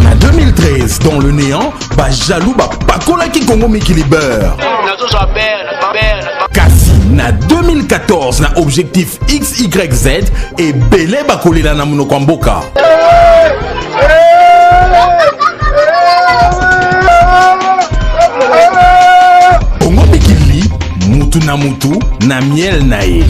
Na 2013, dans le néant, ba jaloux ba pakola ki Congo Mikili Beurre. Kasi na 2014, na objectif XYZ, et belé ba kolela na monoko mboka. Congo Mikili, mutu na mutu, na miel na ye.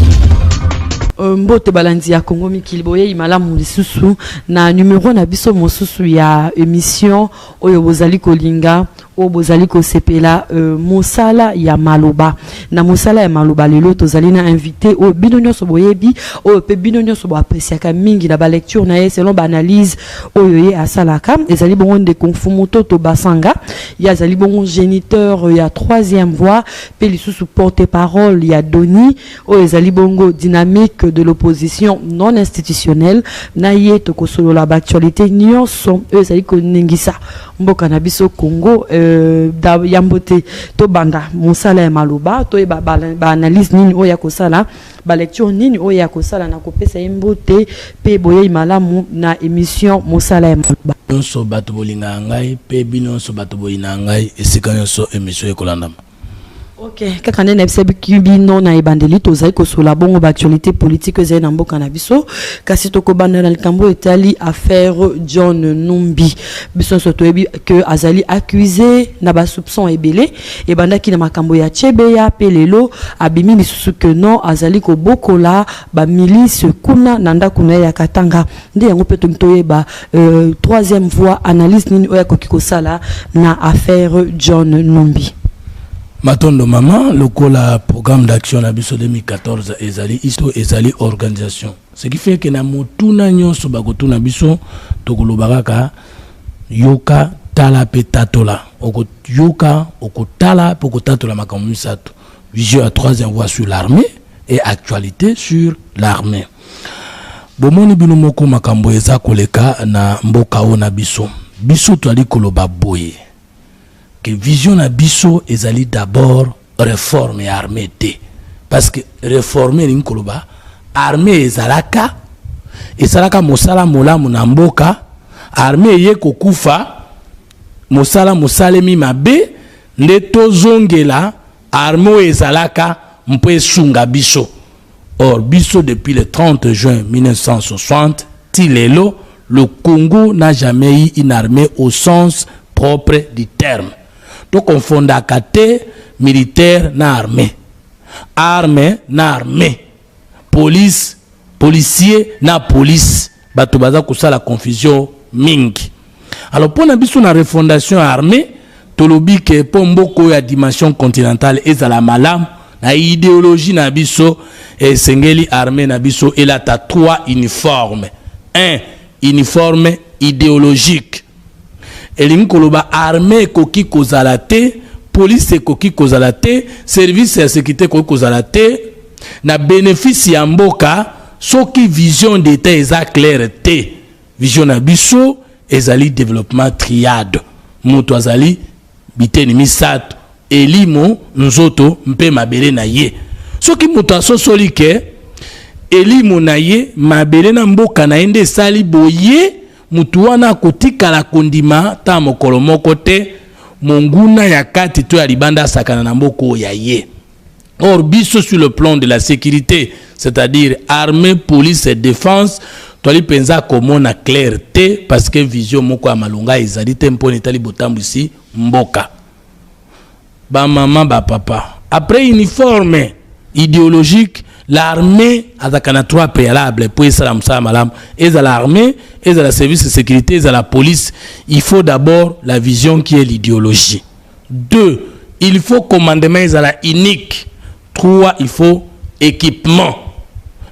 Euh, mbote balandi ya Congo Mikili boyeyi malamu lisusu na numero na biso mosusu ya emission oyo bozali kolinga oyo bozali kosepela euh, mosala ya maloba na mosala ya maloba lelo tozali na invité oyo bino nyonso boyebi oyo mpe bino nyonso boapresiaka mingi na balecture na ye selon baanalyse oyo ye asalaka ezali bongo ndeko mfumu toto basanga ye azali bongo géniteur ya troisième voix mpe lisusu porte parole ya doni Oyo ezali bongo dynamique de l'opposition non institutionnelle na ye tokosolola ba actualites nionso oyo ezali koningisa mboka na biso Congo euh, da, yambo te tobanda mosala ya maloba toyeba ba, ba analyse nini oyo akosala ba lecture nini oyo akosala na kopesa ye mbote mpe boyei malamu na émission mosala ya maloba nyonso bato bolingaka ngai mpe bino nyonso bato boyinaka ngai esika nyonso émission ekolandama Okay. kaka nde nayebisaki bino na ebandeli tozali kosola bongo baactualité politique oyo ezali na mboka na biso kasi tokobanda na likambo oyo etali affaire john numbi biso nyonso toyebi ke azali accuse na basoupçon ebele ebandaki na makambo ya chebeya mpe lelo abimi lisusu ke non azali kobokola bamilice kuna na ndako na ye ya katanga nde yango mpe tongi toyeba euh, troisième voix analyse nini oyo akoki kosala na affaire john numbi matondo mama lokola programme d'action na biso 2014 ezali isto ezali organisation ce qui fait ke na motuna nyonso bakotuna biso tokoloba kaka yoka tala mpe tatola okoyoka okotala mpe okotatola makambo misato vision ya troisième voie sur l'armée et actualité sur l'armée bomoni bino moko makambo eza koleka na mboka oyo na biso biso toali koloba boye ke vision na biso ezali d'abord reforme ya armée te parce que reforme elingi koloba armée ezalaka esalaka mosala molamu na mboka armée eye kokufa mosala mosalemi mabe nde tozongela Armee oyo ezalaka mpo esunga biso. Or biso depuis le 30 juin 1960 ti lelo le Congo n'a jamais eu une armée au sens propre du terme. Tokonfondaka te militaire na armée. Arme na armée. Police, policier na police. Bato baza kosala confusion mingi. Alors pona biso na refondation ya armée tolobi ke po mboko ya dimension continentale ezala malamu na ideologie na biso esengeli armée na biso elata trois uniformes. Un uniforme ideologique. Elingi koloba armee ekoki kozala te, police ekoki kozala te, service ya securite ekoki kozala te na benefice ya mboka soki vision d'etat eza claire te. Vision na biso ezali development triade. Moto azali biteni misato, elimo, nzoto mpe mabele na ye. Soki moto asosoli ke elimo na ye, mabele na mboka na ye nde esali boye Moto wana akotikala kondima ta mokolo moko te monguna ya kati to ya libanda asakana na mboka oyo ya ye. Or, biso sur le plan de la sécurité, c'est-à-dire armée, police et défense, toali penza komona clair te parce que vision moko ya malonga ezali te mpo na etali botambwisi mboka. Ba maman ba papa après uniforme ideologique l'armée azalaka na trois préalable mpo esala mosala malamu ezala armée ezala service de sécurité ezala police il faut d'abord la vision qui est l'idéologie deux il faut commandement ezala unique trois il faut équipement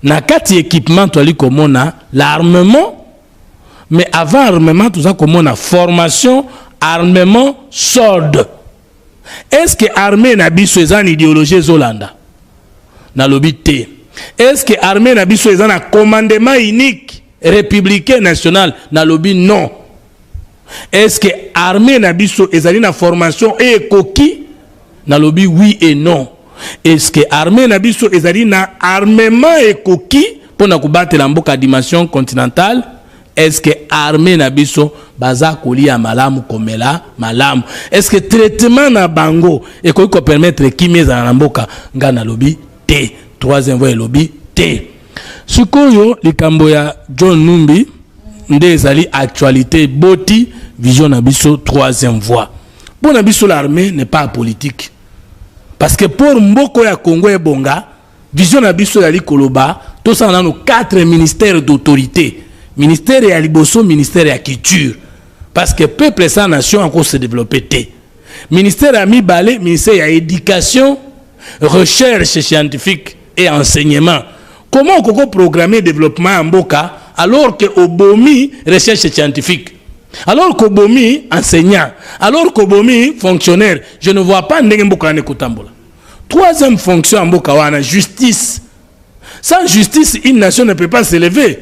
na kati équipement toali komona l'armement mais avant armement toza komona formation armement solde est ce que armée na biso eza na idéologie ezolanda nalobi te est ce que armée na biso eza na commandement unique républicain national nalobi non Est ce que armee na biso ezali na formation oyo ekoki? Nalobi oui et non. Est ce que armee na biso ezali na armement ekoki mpo na kobatela mboka dimension continentale? Est ce que armee na biso baza kolia malamu komela malamu? Est ce que traitement na bango ekoki ko permettre kimia ezala na mboka? Ngai nalobi te. Troisième voie elobi te. Sikoyo likambo ya John Numbi nde ezali actualité eboti vision na biso troisième voie mpo na biso l'armée n'est pas politique parce que pour mboko ya congo ebonga vision na biso ezali koloba tosala nano quatre ministères d'autorité ministère ya liboso ministère ya culture parce que peuple sans nation ako se développer te ministère ya mibale ministère ya éducation recherche scientifique et enseignement comment okoki ko programmer developpement ya mboka alors que obomi recherche scientifique alors que obomi enseignant alors que obomi fonctionnaire je ne vois pas ndenge mboka wana ekotambola troisième fonction ya mboka wana justice sans justice une nation ne peut pas s'élever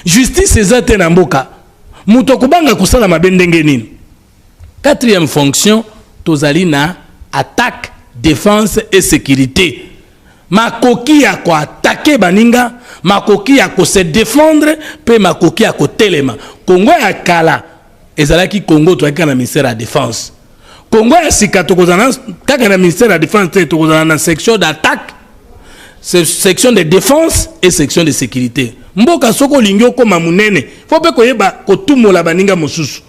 justice eza te na mboka moto akobanga kosala mabe ndenge nini Quatrième fonction, tozali na attaque, defense et securite. Makoki ya ko attaquer baninga, makoki ya ko se defendre pe makoki ya kotelema. Congo ya kala ezalaki Congo toyaki na ministère ya defense. Congo ya sika tokozala kaka na ministère ya defense te, tokozala na section d'attaque, section de defense et section de sécurité. Mboka soko olingi okoma munene, faut pe koyeba kotumola baninga mosusu.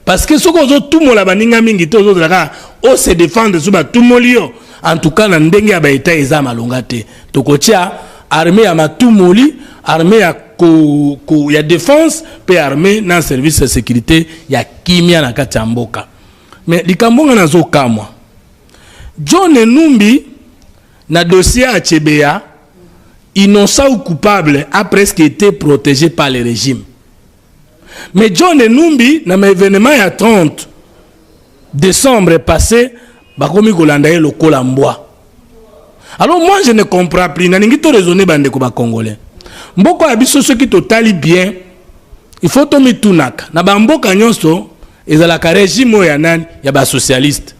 parce que soki ozotumola baninga mingi te ozozela kaka o se défendre so batumoli yo en tout cas na ndenge ya baetat eza malonga te tokotya armée ya matumoli armée ya ko, ko, ya défense mpe armée na service ya sécurité ya kimia na kati ya mboka mais likambo nga nazokamwa john enumbi na dossier ya chebeya innocent ou coupable a presque été protégé par le régime Mais John Enumbi na ma evenement ya 30 décembre passé bakomi kolanda ye lokola mbwa. Alors moi je ne comprends plus nalingi to raisonner bande ko ba congolais. Mboko ya biso soki totali bien il faut to mitunaka na ba mboka nyonso ezalaka regime oyo ya nani ya ba socialiste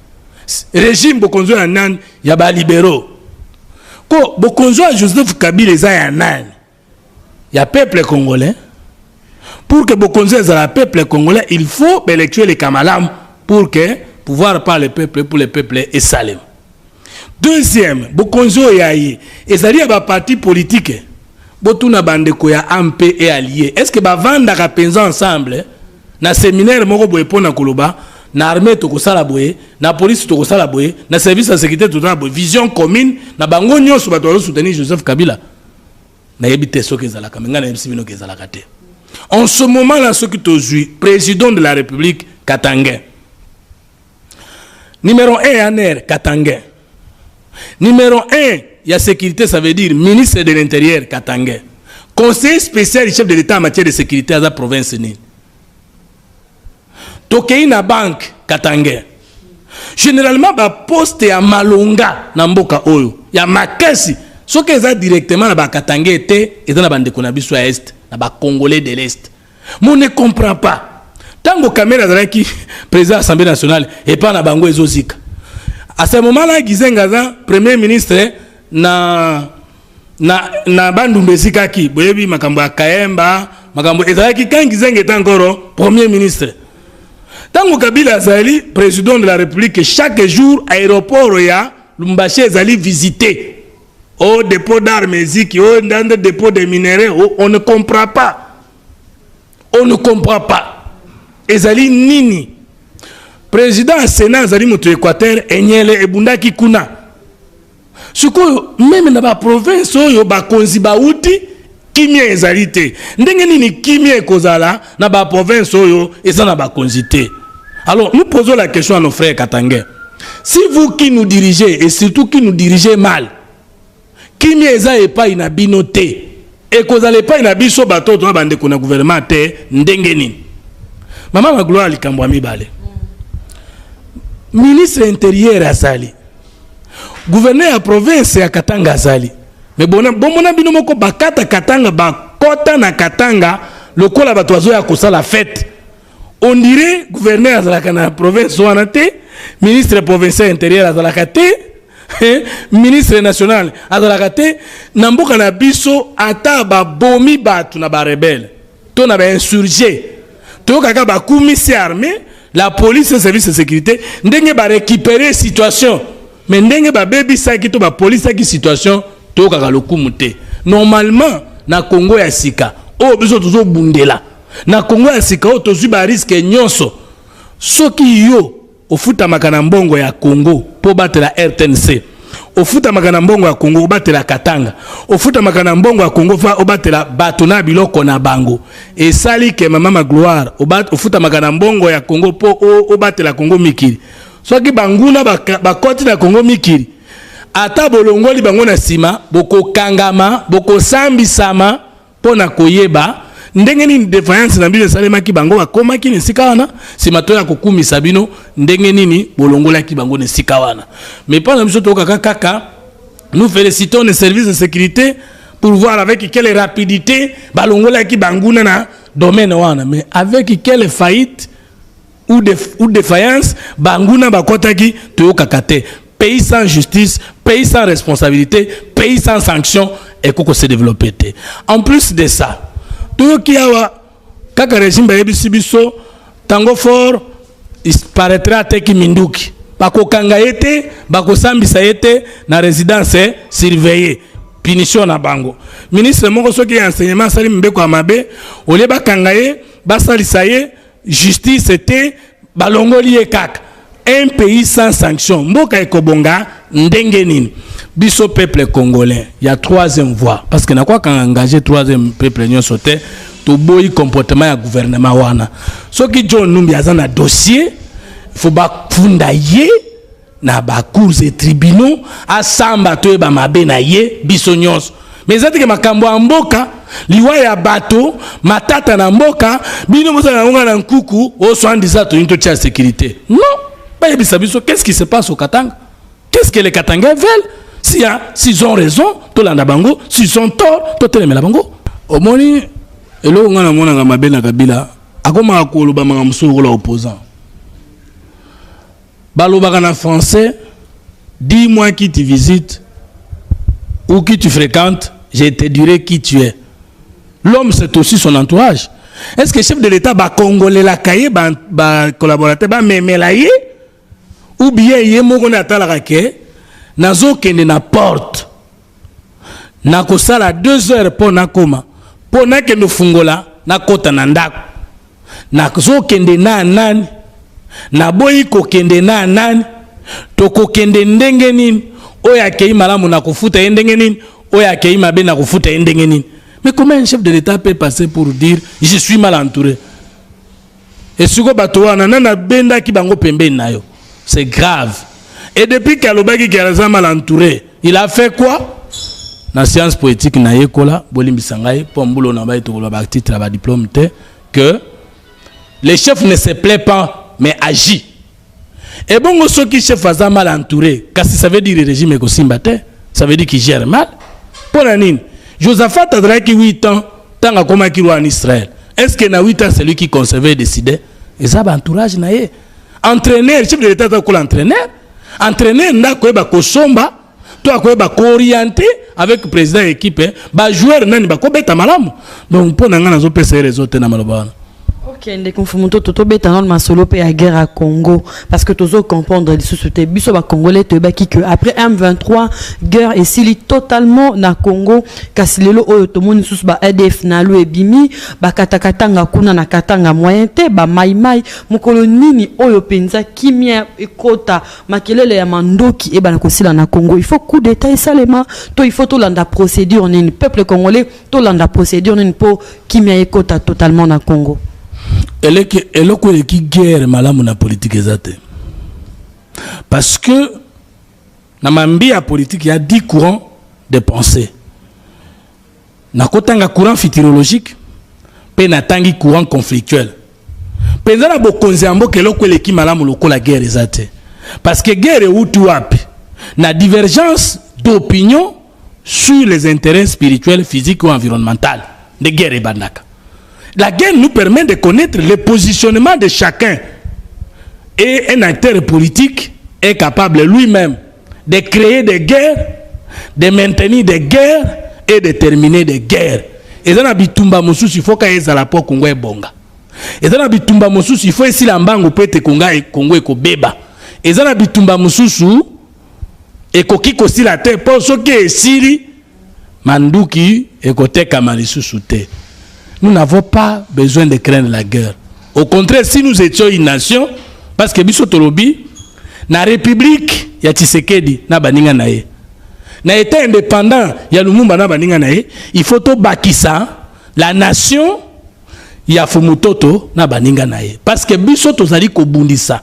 regime bokonzi ya nani ya ba libéraux ko bokonzi ya joseph kabila eza ya nani ya peuple congolais pour que bokonzi ezala ya peuple congolais il faut baélection eleka malamu pour que pouvoir par le peuple pour le peuple esalema deuxième bokonzi oyo ya ye ezali ya baparti politike botuna bandeko ya amp e allie est ce que bavandaka mpenza ensemble na seminaire moko boye mpo na koloba na armée tokosala boye na police tokosala boye na service ya sécurité totala boye vision commune na bango nyonso bato bazosoutenir joseph kabila nayebi te soki ezalaka me ngai nayebisi bino ke ezalaka te en ce moment là soki tozwi président de la république katangain numéro 1 ya ner katangain numéro 1 ya sécurité ça veut dire ministre de l'intérieur katangain conseiller spécial du chef de l'état en matière de sécurité aza province nini Tokeyi na banque Katangais. Generalement ba poste ya malonga na mboka oyo ya makasi soki eza directement na ba Katangais te eza na bandeko na biso ya est na ba Congolais de l'est. Mon ne comprend pas. Tango Kamere azalaki président Assemblée nationale epa na bango ezozika. À ce moment-là Gizenga aza premier ministre na na, na bandumba ezikaki boyebi makambo ya kaemba makambo ezalaki kangi zenge ta nkoro premier ministre ntango kabila azali président de la république chaque jour aéroport ya lumbashi ezali visité o oh, dépôt d'arme eziki o oh, ndande dépôt de minerais oh, on ne comprend pas on ne comprend pas ezali nini président ya sénat azali moto ya équateur enyele ebundaki kuna sikoyo meme na baprovince oyo bakonzi bauti kimia ezali te ndenge nini kimia ekozala na baprovince oyo eza na bakonzi te alors nous posons la question à nos frères katangais si vous qui nous dirigez et surtout qui nous dirigez mal kimia eza epai na bino te ekozala epai na biso bato oyo toza bandeko na gouvernement te ndenge nini mama magloire likambo ya mibale ministre interieur azali Gouverneur ya province ya Katanga azali. Mais bona bomona bino moko bakata Katanga ba kota na Katanga lokola bato bazoya kosala fete. On dirait gouverneur azalaka na province wana te, ministre provincial intérieur azalaka te, hein, ministre national azalaka te na mboka na biso ata babomi bato na ba rebelle. to na ba insurgés toyoka kaka bakumisi armée la police et service de sécurité ndenge ba récupérer situation mais ndenge babebisaki to bapolisaki situation toyokaka lokumu te normalement na congo ya sika oyo biso tozobundela na congo ya sika oyo tozwi bariske nyonso soki yo Ofutamaka na mbongo ya Congo mpo obatela rtnc. Ofutamaka na mbongo ya Congo obatela Katanga. Ofutamaka na mbongo ya Congo fa obatela bato na biloko na bango. Esali ke mama Magloire ofutamaka na mbongo ya Congo mpo obatela Congo mikili. Soki banguna bakoti na Congo mikili, ata bolongoli bango na nsima, bokokangama, bokosambisama. Mpo na koyeba ndenge nini defiance na bino esalemaki bango bakomaki na esika wana nsima to ya kokumisa bino ndenge nini bolongolaki bango na esika wana mais mpo na biso toyokaka kaka nous félicitons les services de sécurité pour voir avec quelle rapidité balongolaki banguna na domaine wana mais avec quelle faillite ou de ou defiance banguna bakotaki toyokaka te pays sans justice pays sans responsabilité pays sans sanction ekoko se développer te en plus de ça toyoki awa kaka régime bayebisi biso tango fort il paraîtrait ateki minduki bakokanga ye te bakosambisa ye te na résidence eh, surveillée punition na bango ministre moko soki ya enseignement asali mibeko ya mabe olie bakanga ye basalisa ye Justice te balongoli ye kaka. Un pays sans sanction mboka ekobonga ndenge nini? Biso peuple congolais ya troisième voie parce que nakwaka engagé troisième peuple nyonso te toboyi comportement ya gouvernement wana soki John Numbi aza na dossier faut bafunda ye na ba cours et tribunaux asamba toyeba mabe na ye biso nyonso mais eza teke makambo ya mboka liwa ya bato matata na mboka bino bozala yango na nkuku oswandisa toyini totya sécurité non bayebisa biso qu'est ce qui se passe au katanga qu'est ce que les katangais veulent si ya s'ils ont raison tolanda bango s'ils ont tort totelemela bango omoni eloko ngai namonaka mabe na kabila akomaka koloba makambo mosusu lokola opposant Balobaka na français dis moi qui tu visites ou qui tu fréquentes je te dirai qui tu es l'homme c'est aussi son entourage est ce que chef de l'état bakongolelaka ye bacollaborateur ba bamemela ye ou bien ye moko nde atalaka ke nazokende na porte nakosala deux heures mpo nakoma mpo nakende ofungola nakota na ndako nazokende na nani naboyi kokende na nani tokokende ndenge nini oyo akei malamu na kofuta ye ndenge nini oyo akei mabe na kofuta ye ndenge nini mais comment un chef de l'état peut passer pour dire je suis mal entouré Et siko bato wana nana bendaki bango pembeni na yo. C'est grave. Et depuis qu'alobaki qu'il a mal entouré, il a fait quoi? na science poétique na yekola bolimbisa ngai mpo mbulo na bai tokoloba batitre ya badiplome te que le chef ne se plaît pas mais agit ebongo soki chef aza mal entouré kasi ça veut dire régime ekosimba te ça veut dire qu'il gère mal mpo na nini josaphat azalaki 8 ans ntango akomaki roi en israël est ce que na 8 ans celui qui conservait décidait eza baentourage na ye entraîneur chef de l'état aza kola entraîneur entraîneur nde akoyeba kosomba to akoyeba kooriente avec président ya équipe eh, bajoueur nani bakobeta malamu donc mpo na ngai nazopesa ye rezo te na maloba wana ok ndeko mfumu ntoto tobeta nano masolo mpe ya guerre ya congo parce que tozo comprendre lisusu te biso bacongolais toyebaki que après m23 guerre esili totalement na congo kasi lelo oyo tomoni lisusu ba adf na lo ebimi bakatakatanga kuna na katanga moyen te bamaimai mokolo nini oyo mpenza kimia ekota makelele ya mandoki ebana kosila na Congo il faut coup d'état esalema to il faut tolanda procédure nini peuple congolais tolanda procédure nini mpo kimia ekota totalement na Congo eleke eloko eleki guerre malamu na politique eza te parce que na mambi ya politique ya 10 courant de pensée Nakotanga courant futurologique mpe natangi courant conflictuel. Mpenza na bokonzi ya mboka eloko eleki malamu lokola guerre eza te. Parce que guerre euti wapi? Na divergence d'opinion sur les intérêts spirituels, physiques ou environnementales. Nde guerre ebandaka. La guerre nous permet de connaître le positionnement de chacun. Et un acteur politique est capable lui-même de creer des guerres de maintenir des guerres et de terminer des guerres eza na bitumba mosusu il faut ka ezala mpo kongo ebonga eza na bitumba mosusu il faut esila mbangu mpo ete kongo ekobeba eza na bitumba mosusu ekoki kosila te mpo soki esili Manduki ekotekama lisusu te. Nous n'avons pas besoin de craindre la guerre. Au contraire, si nous étions une nation, parce que biso tolobi, na république ya Tshisekedi na baninga na ye, na état indépendant ya Lumumba na baninga na ye, il faut tobakisa la nation ya Fumutoto na baninga na ye. Parce que biso tozali kobundisa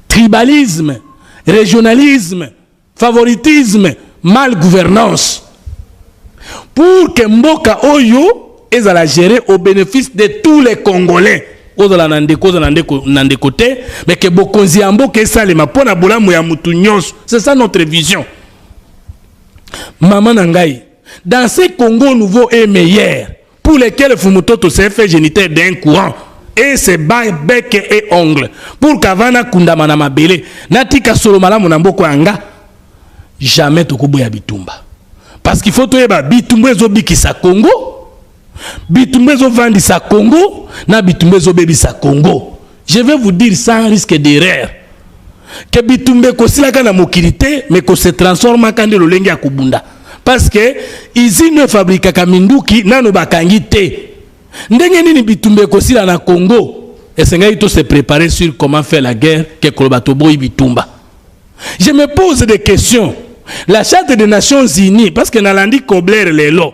tribalisme, régionalisme, Favoritisme, mal gouvernance. Pour que mboka oyo ezala gere au benefice de tous les Congolais. Ozala na ndeko, ozala na ndeko te, mais que bokonzi ya mboka esalema mpo na bolamu ya mutu nyonso. C'est ça notre vision. Maman na ngai, dans ce Congo nouveau et meilleur, Pour lesquels Fumutoto s'est fait géniteur d'un courant et ses bails bec et ongle pour qu'avana kundama na mabele natika solo malamu na mboko yanga jamais tokoboya bitumba parce qu'il faut toyeba bitumba ezobikisa Congo bitumba ezovandisa Congo na bitumba ezobebisa Congo Je vais vous dire sans risque d'erreur que bitumbe kosilaka na mokili te mais ko se transforma kande lolenge ya kobunda parce que usine fabrikaka minduki nano bakangi te ndenge nini bitumbe kosila na Congo esengaki to se préparer sur comment faire la guerre que koloba toboyi bitumba je me pose des questions la charte des nations unies parce que nalandi kobler lelo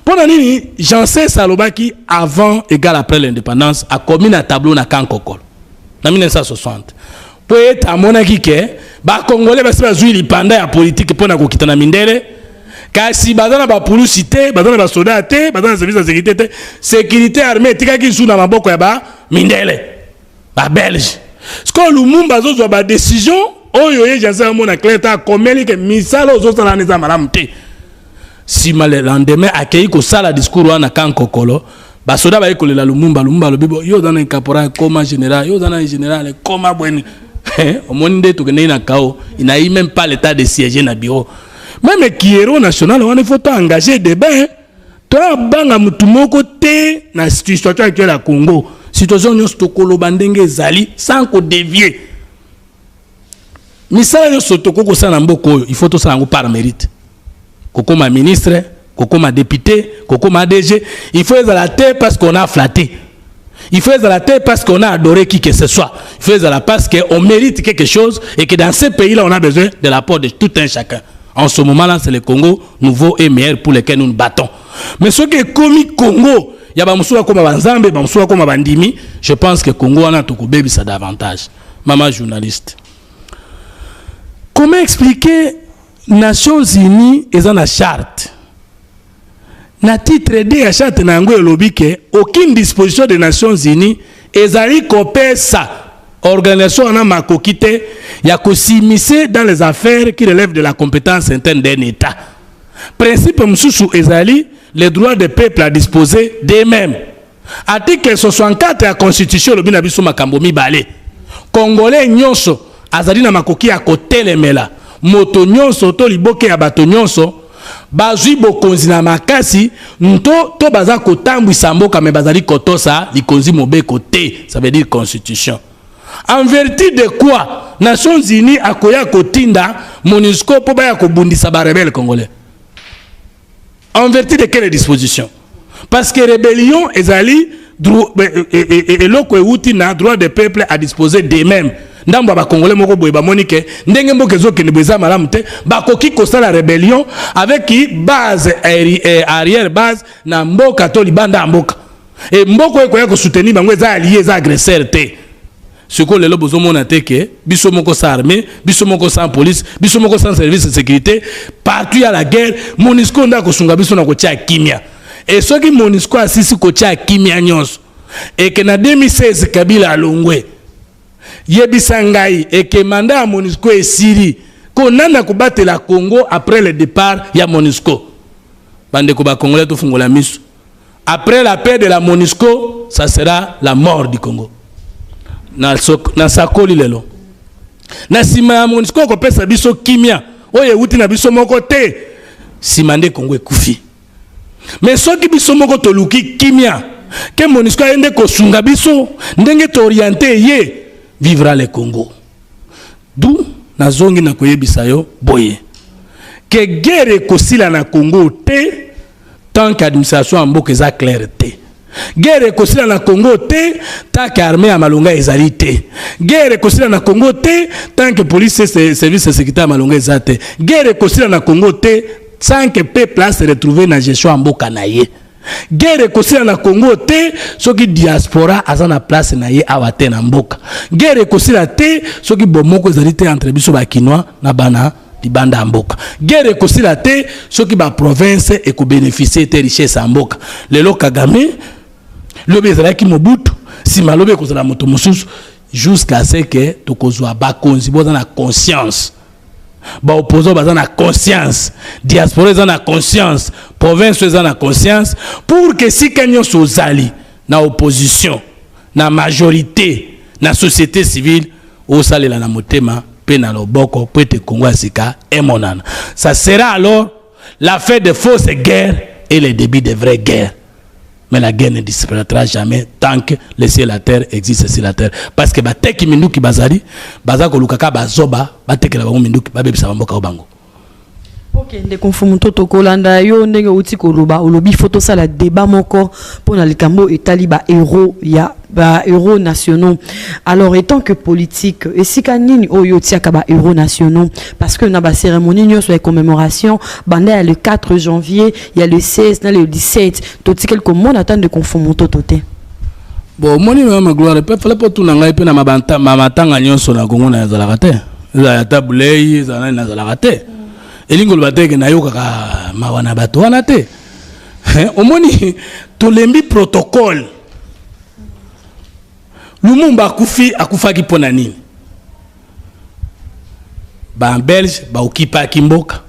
mpo na nini janses alobaki avant égal après l'indépendance akomi na tableau na kankokolo na 1960 mpo ete amonaki ke bakongole basi bazwi lipanda ya politike mpo na kokita na mindele kasi baza na bapulusi te baza na basoda te baza na service ya sécurité te sécurité armée etikaki lisusu na maboko ya bamindele babelge sikoyo lumumba azozwa badécision oyo ye janse amona claire ta akomeli ke misala ozosala wana eza malamu te sima le lendemain akeyi kosala discours wana kan kokolo basoda baye kolela lumumba lumumba alobi bo yo oza na caporal koma général yo oza na général koma bweni eh, omoni nde tokendeki na kao inayi même pas l'état de siège na bureau meme kiero national wana ifo to engage débat hein. to abanga motu moko te na situation actuelle ya congo situation nyonso tokoloba ndenge ezali sans kodevie misala nyonso tokoki kosala na mboka oyo il faut tosala yango par mérite kokoma ministre kokoma député kokoma adg il faut ezala te parce qu'on a flatté il faut ezala te parce qu'on a adoré qui que ce soit il faut ezala parce qu'on mérite quelque chose et que dans ce pays là on a besoin de l'apport de tout un chacun en ce moment là c'est le Congo nouveau et meilleur pour lequel nous nous battons mais ce qui est commis Congo ya bamosusu bakoma banzambe bamosusu bakoma bandimi je pense que Congo wana tokobebisa davantage Maman journaliste. Comment expliquer Nations Unies eza na charte na titre 2 ya charte na yango elobi ke aucune disposition des Nations Unies ezali kopesa organisation wana makoki te ya kosimise dans les affaires qui relèvent de la compétence interne d'un État. Principe mosusu ezali les droits des peuples à disposer d'eux-mêmes. Article 64 ya constitution elobi na biso makambo mibale. Congolais nyonso azali na makoki ya kotelemela moto nyonso to liboke ya bato nyonso bazwi bokonzi na makasi nto to baza kotambwisa mboka me bazali kotosa likonzi mobeko te ça veut dire constitution en vertu de quoi nations unies akoya kotinda monusco mpo baya kobundisa barebele congolais En vertu de quelle disposition Parce que rébellion ezali eloko euti na droit de peuple à disposer d'eux-mêmes ndambo ya bakongole moko boye bamoni ke ndenge mboka ezokende boye eza malamu te bakoki kosala rébellion avec base eh, arrière base na mboka to libanda ya mboka e mboka oyo ekoya kosoutenir bango eza alie eza agresseur te Siko lelo bozo mona te que biso moko sans armée, biso moko sans police, biso moko sans service de sécurité, partout ya la guerre, Monisco nda ko sunga biso na ko tia kimia. Et soki Monisco asisi ko tia kimia nyonso et que na 2016 Kabila alongwe. Yebisa ngai et que mandat ya Monisco esili. Ko nanda ko batela Congo après le départ ya Monisco. Bande ko ba Congolais to fungola misu. Après la paix de la MONUSCO, ça sera la mort du Congo. Na, so, na sakoli lelo. Na sima ya MONUSCO ko pesa biso kimia. Oye wuti na biso moko te. Sima nde Congo ekufi. Mais soki biso moko toluki kimia, ke MONUSCO ayende ko sunga biso, ndenge to orienter ye vivra le Congo. D'où na zongi na koyebisa yo boye. Ke guerre ekosila na Congo te. tant que administration ya mboka eza claire te guerre ekosila na congo te tant que armée ya malonga ezali te guerre ekosila na congo te tant que police service ya sécurité ya malonga eza te guerre ekosila na congo te tant que peuple a se retrouver na gestion ya mboka na ye guerre ekosila na congo te soki diaspora aza na place na ye awa te na mboka guerre ekosila te soki bomoko ezali te entre biso bakinois na bana libanda ya mboka guerre ekosila te soki ba province ekobénéficie te richesse ya mboka lelo kagame lobi ezalaki mobutu nsima lobi ekozala moto mosusu jusqu'à ce que tokozwa bakonzi boza na conscience baopposant baza na conscience diaspora eza na conscience province eza na conscience pour que esika nyonso ozali na opposition na majorite na societe civile osalela na motema mpe na loboko mpo ete kongo ya sika emonana ça sera alors la fin de fausse guerre et le début de vraie guerre mais la guerre ne disparaîtra jamais tant que le ciel la terre existe sur la terre parce que bateki minduki bazali baza koluka kaka bazoba batekela bango minduki babebisa bamboka o bango ok ndeko mfumu toto kolanda yo ndenge outi koloba olobi fo tosala débat moko mpo na likambo etali bahéros ya bahéros nationaux alors étant que politique esika nini oyo otiaka bahéros nationaux parce que na bacérémonie nyonso ya commémoration banda ya le 4 janvier ya le 16 na le 17 totikeli komona ata ndeko mfumu toto te bon omoni mama gloire mpe fale mpo tuna ngai mpe na matanga nyonso na kongo na ezalaka te ezala ata bulei ezala nani nazalaka te elingi koloba te ke nayokaka mawa na bato wana te omoni tolembi protocole lumumba akufi akufaki mpo na nini babelge baokipaki mboka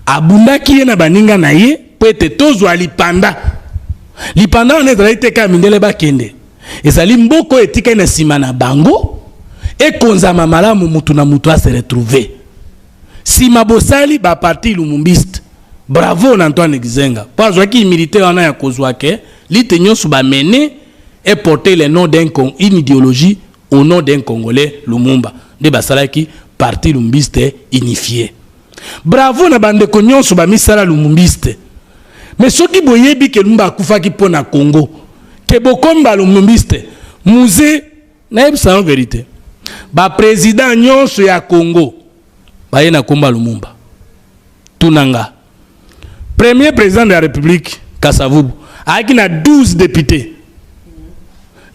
Abundaki ye na baninga na ye mpo ete tozwa lipanda. Lipanda wana ezalaki te kaka mindele bakende, ezali mboka oyo etikali na nsima na bango ekonzama malamu, motu na motu ase retrouver. Nsima bosali ba parti lumumbiste, bravo na Antoine Gizenga mpo azwaki humilite wana ya kozwa ke lutte nyonso ba mener eporter le nom d'un une ideologie Au nom d'un congolais Lumumba nde basalaki parti lumbiste unifie. Bravo na ba ndeko nionso ba misala lumumbiste. Mais soki boyebi ke Lumumba akufaki mpo na Congo ke bokomi ba lumumbiste muze nayebisa yo verite ba president nionso ya Congo baye na kombo ya Lumumba. Tuna nga. Premier président de la République, Kasavubu, a na 12 députés.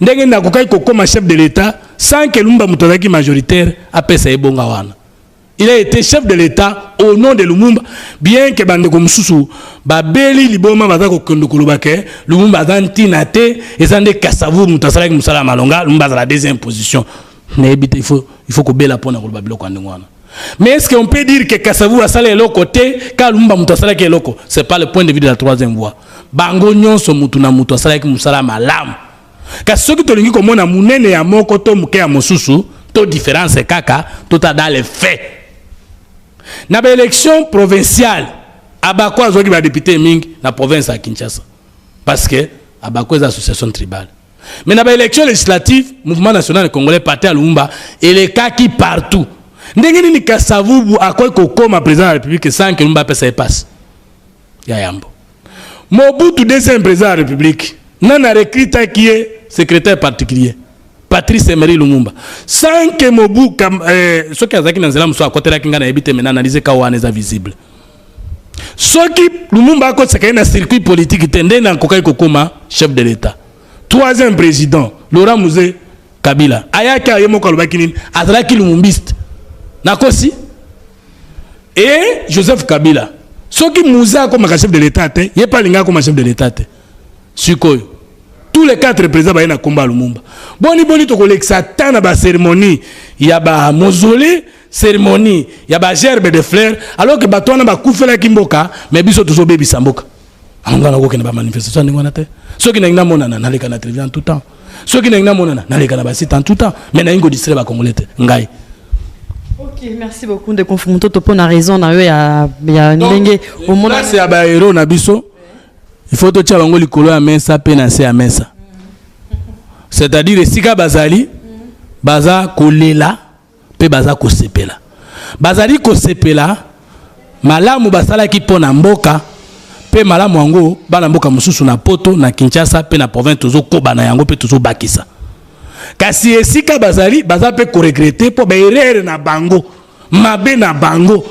Ndenge na kokai kokoma chef de l'État sans que Lumba Mutazaki majoritaire a pesa ebonga wana. Il a été chef de l'État au nom de Lumumba, bien que bande comme sousou, babeli liboma baza ko kondo koloba ke Lumumba azantina te, ezande Kasavubu mutasalaki musala malonga, Lumumba azala deuxième position. nayebi te il faut, il faut kobela mpo na koloba biloko ya ndenge wana mais est ce que on peut dire que kasavu asala eloko te ka lumba moto asalaki eloko c'est pas le point de vue de la troisième voie bango nyonso motu na motu asalaki mosala malamu kasi soki tolingi komona monene ya moko to moke ya mosusu to différence kaka tota dans le fait na baélection provinciale abako azwaki badepute mingi na province ya kinshasa parce que abako eza association tribale Mais na ba élections législatives, Mouvement National Congolais Parti ya Lumumba elekaki partout. Ndenge nini Kasavubu akoki kokoma président de la République sans que Lumumba apesa ye passe? Ya yambo. Mobutu deuxième président de la République, nani a recrutaki ye secrétaire particulier? Patrice Emery Lumumba. Sans que Mobu kam, eh, soki azalaki na nzela mosusu akotelaki ngai nayebi te mais na analyse ka wana eza visible. soki lumumba akotisaka ye na circuit politique te nde nakokaki kokoma chef de l'état troisième président laurent muze kabila ayaki aye moko alobaki nini azalaki lumumbiste nakosi e joseph kabila soki muze akomaka chef de l'état te ye mpe alingaki akoma chef de l'état te sikoyo tous les quatre présidents baye na nkombo ya lumumba boni boni tokolekisa ata na bacérémonie ya bamausolée ceremonie ya ba gerbe de fleur alors que bato wana bakufelaki mboka mais biso tozobebisa mboka yango nga nakokende bamanifestation ya ndenge wana te soki nalingi namonana naleka na television tout temps soki nalingi namonana naleka na basite en tout temps mais nalingi kodistrai bacongolais te ngai Ok, merci beaucoup de confronter to pona raison na yo ya ya ndenge omona place ya ba héros na biso il faut totia bango likolo ya mesa pe na se ya mesa c'est-à-dire esika bazali baza kolela mpe baza kosepela bazali kosepela malamu basalaki mpo na mboka mpe malamu yango bana mboka mosusu na poto na kinshasa mpe na province tozokoba na yango mpe tozobakisa kasi esika bazali baza mpe koregrete mpo baerere na bango mabe na bango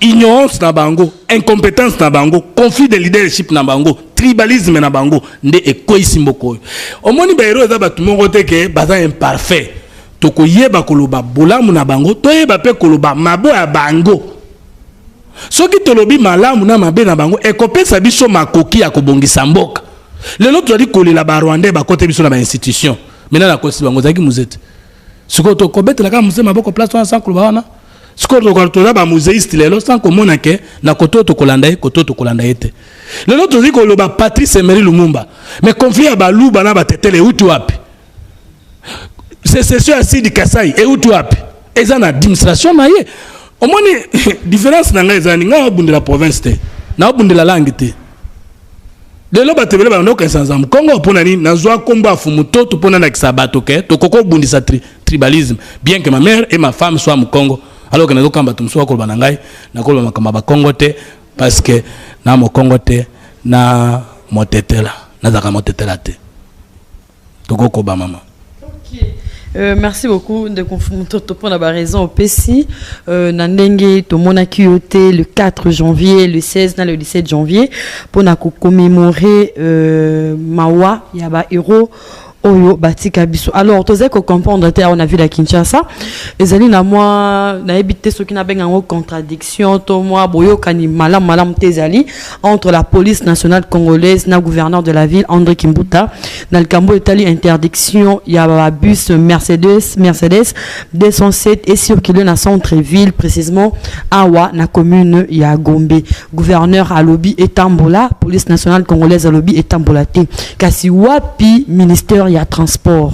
ignorance na bango incompétence na bango conflit de leadership na bango tribalisme na bango nde ekweisi mboka oyo omoni baero eza bato moko te ke baza imparfait Tokoyeba koloba bolamu na bango, toyeba mpe koloba mabo ya bango. Soki tolobi malamu na mabe na bango, ekopesa biso makoki ya kobongisa mboka. Lelo tozali kolela ba Rwandais bakote biso na ba institutions. Mina na kosi bango zaki muzete. Siko to kobetela kaka muzee maboko place wana sans koloba wana. Siko to toza ba muzeiste lelo sans komona ke na koto to kolanda ye koto to kolanda ye te. Lelo tozali koloba Patrice Emery Lumumba. Mais conflit ya baluba na batetele euti wapi? secession ya sidi kasai euti wapi eza na administration na ye omoni différence na ngai eza nini ngai abundela province te naobundela langue te lelo bato ebele banaokanisa naza mokongo mpo na nini nazwa nkombo ya fumu to to mpo nalakisa bato ke tokoki kobundisa tri, tribalisme bien que ma mère et ma femme soit mokongo alors que nazokamba bato mosusu bakoloba na ngai nakoloba makambo ya bakongo te parce que na mokongo te na motetela nazalaka motetela te tokokoba mama Euh, merci beaucoup de Mutoto pour la raison au Pessi. Euh, Nandenge, Tomona Kyote, le 4 janvier, le 16, le 17 janvier, pour commémorer euh, Mawa, Yaba Hero. oyo batika biso alors tozali kocomprendre te awa na ville ya kinshasa ezali na mwa nayebi te soki nabenga yango contradiction to mwa boyokani malamu malamu te ezali entre la police nationale congolaise na gouverneur de la ville André Kimbuta na likambo etali interdiction ya ba bus Mercedes Mercedes 207 et circuler na centre ville précisément awa na commune ya Gombe gouverneur alobi etambola police nationale congolaise alobi etambola te kasi wapi ministère ya transport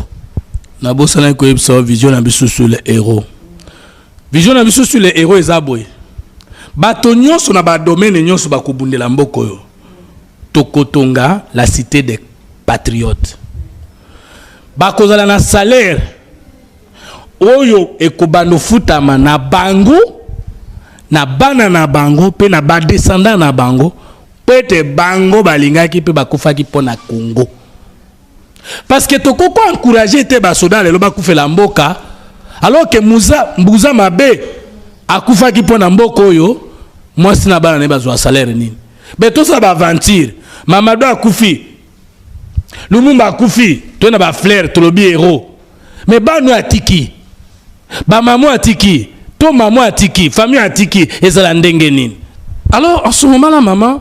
na bosanaki koyebisa vision na biso sur le héros Vision na biso sur les héros eza boye. Bato nyonso na ba domaine nyonso bakobundela mboka oyo. Tokotonga la cité des patriotes. Bakozala na salaire oyo ekobanda ofutama na bango na bana na bango mpe na badescendant na bango mpo ete bango balingaki mpe bakufaki mpo na Congo. parce que toko ko encourager te ba soda lelo ba kufela mboka alors que muza mbuza mabe akufaki mpo na mboka oyo mwasi na bana ne bazwa salaire nini be tosala ba aventure mamado akufi lumumba akufi to na ba flair tolobi héros mais banu atiki ba mamu atiki to mamu atiki famille atiki ezala ndenge nini alors en ce moment là maman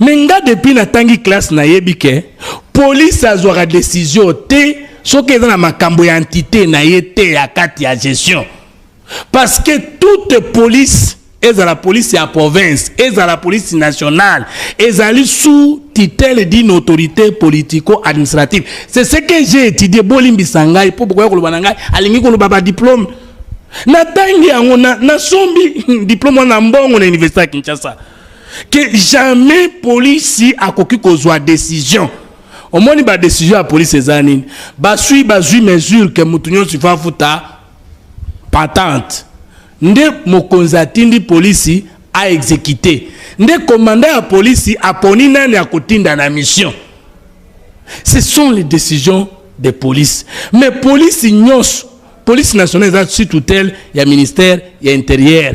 Mais nga depuis na tangi classe na yebi ke police azwaka decision te soki eza na makambo ya entité na ye te ya kati ya gestion parce que toute police ezala police ya province ezala police nationale ezali sous titele d'une autorité politico administrative c'est ce que j'ai étudié bolimbisa ngai mpo bokoya koloba na ngai alingi koloba badiplome natangi yango nasombi na diplome wana mbongo na université ya kinshasa que jamais police akoki kozwa decision omoni ba decision ya police eza nini basui bazwi mesure ke moto nyonso ifo afuta patente nde mokonzi atindi polisi aexekite nde komanda ya polisi aponi nani akotinda na mission ce sont les décisions de police mais polisi nyonso police nationale eza sur tutelle ya ministère ya interieur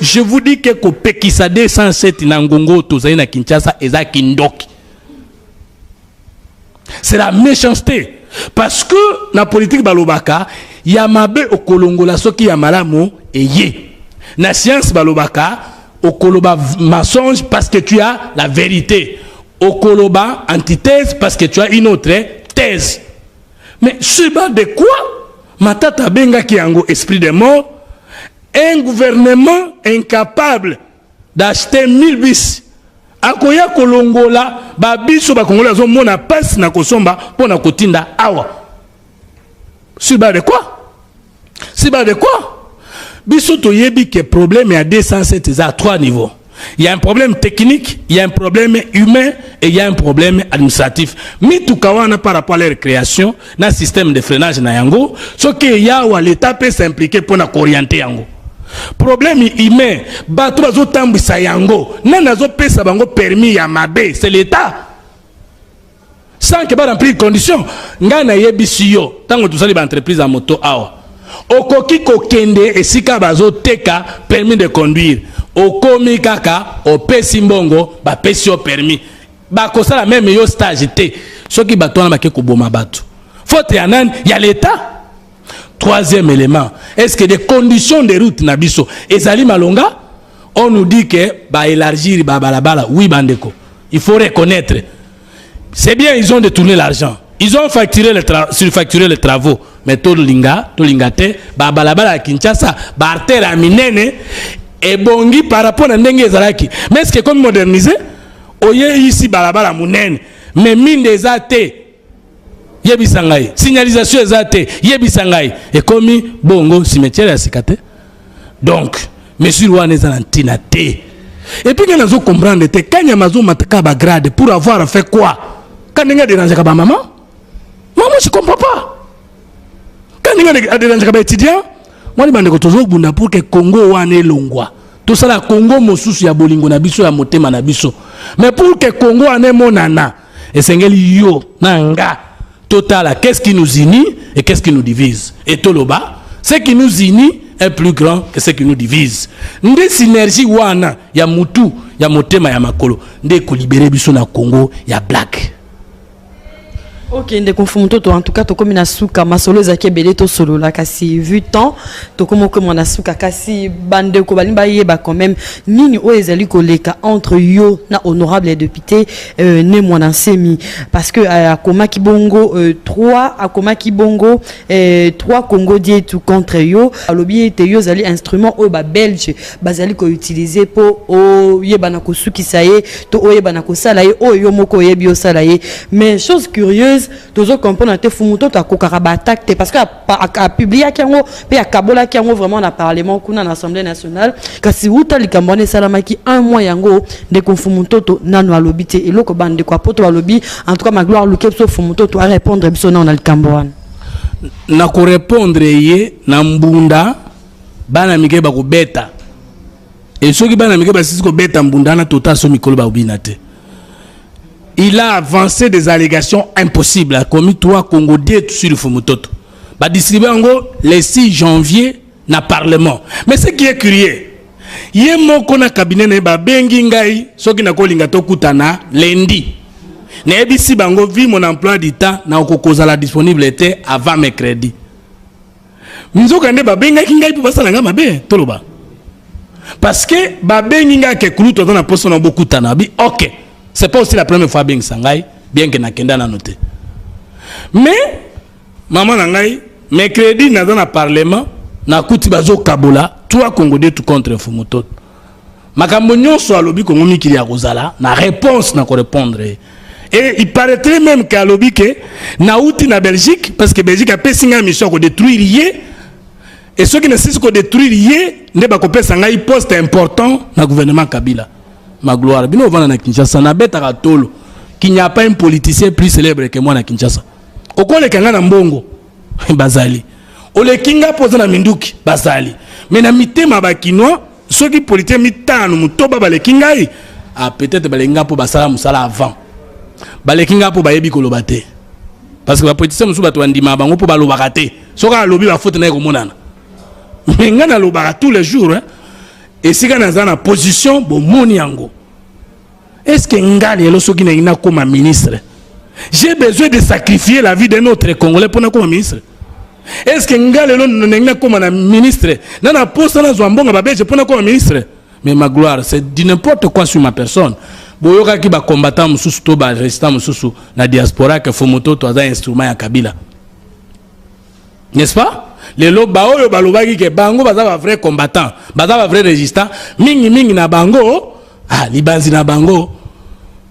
Je vous dis que kopekisa 207 na ngongo tozali na Kinshasa eza kindoki. C'est la méchanceté parce que na politique balobaka ya mabe okolongola soki ya malamu eye. Na science balobaka okoloba mensonge parce que tu as la vérité. Okoloba antithèse parce que tu as une autre thèse. Mais ce bas de quoi Matata benga ki yango esprit de mort Un gouvernement incapable d'acheter 1000 bis akoya kolongola ba biso ba congolais azo mona pasi na kosomba mpo na kotinda awa sur base de quoi sur base de quoi biso toyebi ke problème ya 207 eza 3 niveau Il y a un problème technique, il y a un problème humain et il y a un problème administratif. Mituka wana par rapport à leur création, na système de freinage na yango, ce que yawa l'État peut s'impliquer pour na orienter yango. Problème humain, bato bazo tambisa yango, nani azo pesa bango permis ya mabe, c'est l'État. sans que ba remplir condition ngai nayebisi yo ntango tosali ba entreprise ya moto awa okoki kokende esika bazoteka permis de conduire okomi kaka opesi mbongo bapesi yo permis bakosala meme yo stage te soki bato wana bake koboma bato faute ya nani ya leta troisième élément est ce que des conditions de route na biso ezali malonga on nous dit que ba élargir ba balabala oui bandeko il faut reconnaître c'est bien ils ont détourné l'argent ils ont facturé les surfacturé les travaux mais tolinga tolinga te ba balabala ya Kinshasa ba artère ya minene ebongi par rapport na ndenge ezalaki mais est-ce que comme moderniser oyeisi balabala munene mais mine eza te yebisa ngai signalisation eza te yebisa ngai ekomi bongo cimetière ya sika te donc mesure wana eza na ntina te epuis ngai nazo comprendre te kanyama azomataka bagrade pour avoir fait quoi ka ndenge aderangeaka bamama mama je comprends pas ka ndenge aderangeaka baétudiant mwani bandeko tozobunda pour ke congo wana elongwa tosala congo mosusu ya bolingo na biso ya motema na biso mais pour ke congo wana emonana esengeli yo na nga totala qu'est-ce qui nous unit et qu'est-ce qui nous divise et toloba ce qui nous unit est plus grand que ce qui nous divise nde synergie wana ya mutu ya motema ya makolo nde ekolibere biso na congo ya black ok ndeko mfumu toto en tout cas tokomi na suka masolo ezalaki ebele tosolola kasi vu temps tokomi okoma na suka kasi bandeko balingi bayeba quand même nini oyo ezali koleka entre yo na honorable ya député euh, ne mwana nsemi parce que euh, akomaki bongo euh, trois akomaki bongo euh, trois congo dietu contre yo alobi ete yo ozali instrument oyo babelge bazali koutilize mpo oyebana kosukisa ye to oyebana kosala ye oyo yo moko oyebi osala ye mais chose curieuse tozo comprendre te fumu to akokaka baattaque te parce que a publiaki yango mpe akabolaki yango vraiment na parlement kuna na assemblée nationale kasi uta likambo wana esalamaki un mois yango ndeko mfumu ntoto nano alobi te eloko bandeko ya poto balobi en tout cas magloire luke biso mfumu ntoto arépondre biso nano na likambo wana na korépondre ye na mbunda bana mike bakobeta e soki bana mike basisi kobeta mbunda wana tota so mikolo bakobina te Il a avancé des allégations impossibles a commis trois Congo dieu sur le Fumutoto. Ba distribuer yango le 6 janvier na parlement. Mais ce qui est curieux, ye moko na cabinet na ye babengi ngai soki nakolinga tokutana lundi. Nayebisi bango vu mon emploi du temps na okokozala disponible te avant mercredi. nzokande babengaki ngai mpo basala ngai mabe toloba parce que babengi ngai ke kulutu aza na mposa na bokutana abi ok c'est pas aussi la première fois abengisa ngai bien ke nakenda nano te mais mama na ngai mercredi naza na parlement nakuti bazokabola trois congo de tout contre fumutoto Makambo nyonso alobi Congo mikili ya kozala na réponse na ko répondre ye. Et il paraîtrait même que alobi que nauti na Belgique parce que Belgique apesi ngai mission ya ko détruire ye et soki nasilisi ko détruire ye nde bakopesa ngai poste important na gouvernement Kabila. Magloire bino ovanda na Kinshasa nabetaka tolo qu'il n'y a pas un politicien plus célèbre que moi na Kinshasa. Okoleka ngai na mbongo. bazali oleki nga mpo oza na minduki bazali me na mitema bakinois soki politike mitano motoba baleki ngai ah, peut-être baleki ngai mpo basala mosala avant baleki ngai mpo bayebi koloba te parce que bapolitisien mosusu bato bandimaka bango mpo balobaka te soki alobi bafote naye komonana me ngai nalobaka tous les jours esika naza na position bomoni yango est ce que nga lelo soki nalingi nakoma ministre j'ai besoin de sacrifier la vie d'un autre congolais mpo nakoma ministre est ce que nga lelo nalingi nakoma na ministre na na posa nazwa mbongo babelge mpo nakoma ministre mais ma gloire c'est du n'importe quoi sur ma personne boyokaki bacombattant mosusu to barésistant mosusu na diaspora ke fomototo aza instrument ya kabila n'est-ce pas lelo baoyo balobaki ke bango baza ba vrai combattant baza ba vrai résistant mingi mingi na bango ah, libanzi na bango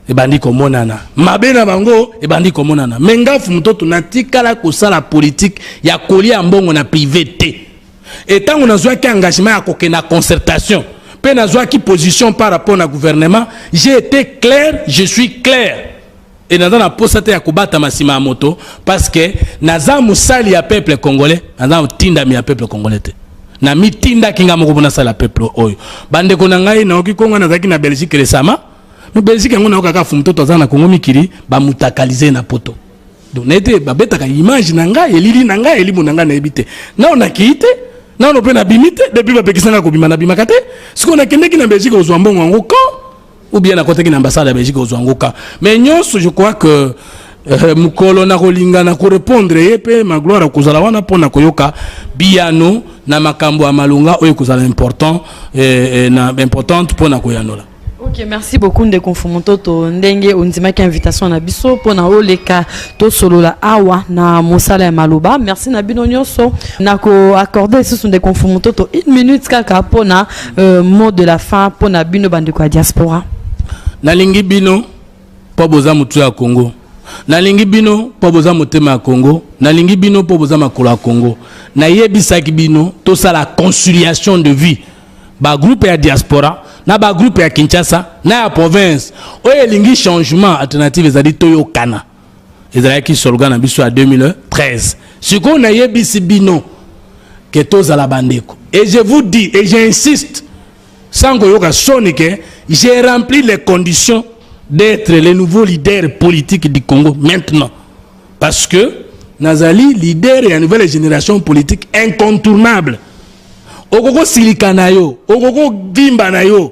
ebandi komonana mabe na bango ebandi komonana me ngafu mototo natikala kosala politike ya kolia mbongo na prive te etango nazwaki engagement ya kokenda concertation mpe nazwaki position par rapport na gouvernement j'ai été clair je suis clair et naza na posa te ya kobatama sima ya moto parce que naza musali ya peuple congolais naza motindami ya peuple congolais te na mitindaki ngai moko mpo nasala peuple oyo bandeko na ngai naoki kongo nazalaki na belgique resama no belgique yango nayoka kaka fumutoto aza na kongo mikili bamutakalise na poto donc naye te babetaka image na ngai elili na ngai elimo na ngai nayebi te nao nakei te nano mpe nabimi te depuis bapekisa ngai kobima nabimaka te sikoyo nakendeki na belgique kozwa mbongo yango quand ou bien nakotaki na ambassade ya belgique kozwa yango ka mais nyonso je crois que euh, mokolo nakolinga na korepondre ye mpe magloire akozala wana mpo na koyoka biyano na makambo ya malonga oyo ekozala important eh, eh, na importante mpo na koyanola Ok, merci beaucoup ndeko Mfumutoto ndenge ondimaki invitation na biso pona oleka to solola awa na mosala ya maloba. Merci na bino nyoso. Nako accorder sous ndeko Mfumutoto une minute kaka pona euh, mot de la fin mpo na bino bandeko ya diaspora nalingi bino mpo boza motu ya congo nalingi bino mpo boza motema ya congo nalingi bino mpo boza makolo ya congo nayebisaki bino tosala conciliation de vie bagroupe ya diaspora na bagroupe ya kinshasa na ya province oyo elingi changement alternative ezali toyokana ezalaki slogan na biso ya 2013 sikoyo nayebisi bino ke tozala bandeko et je vous dis et j'insiste sans koyoka soni ke j'ai rempli les conditions d'être le nouveau leader politique du congo maintenant parce que nazali leader ya nouvelle génération politique incontournable okoki kosilika na yo okoki kovimba na yo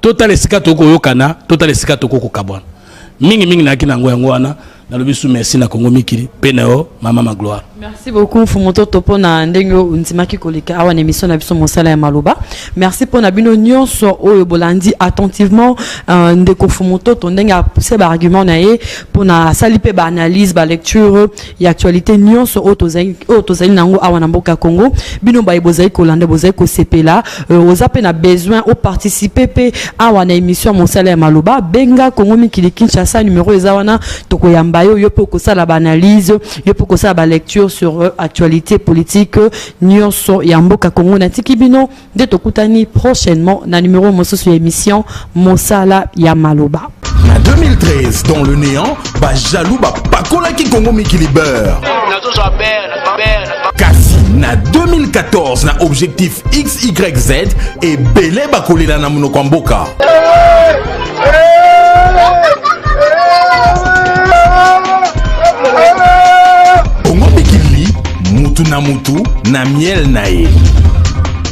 totala esika tokoki koyokana totala esika tokoki kokabwana mingi mingi nayaki na yango yango wana nalobi su merci na kongo mikili mpe na yo mama magloire merci beaucoup mfumu toto mpo na ndenge oyo ondimaki koleka awa na émission na biso mosala ya maloba merci mpo na bino nyonso oyo bolandi attentivement uh, ndeko mfumu toto ndenge apuse baargument na ye mpo na asali mpe baanalyse balecture ya actualité nyonso oyo tozali oyo tozali nango awa na mboka Congo bino baye bozali kolanda bozali kosepela euh, oza pe na besoin o participer pe awa na émission mosala ya maloba benga Congo mikili Kinshasa numéro eza wana tokoyamba yo yo pe okosala ba analyse yo pe okosala ba lecture sur euh, actualité politique euh, nyonso ya mboka Congo natiki bino nde tokutani prochainement na numero mosusu ya emission mosala ya maloba na 2013 dans le néant bajaloux bapakolaki kongo mikili beurre kasi na 2014 na objectif xyz ebele bakolela na monoko ya mboka bongo mikili mutu na mutu na miel na ye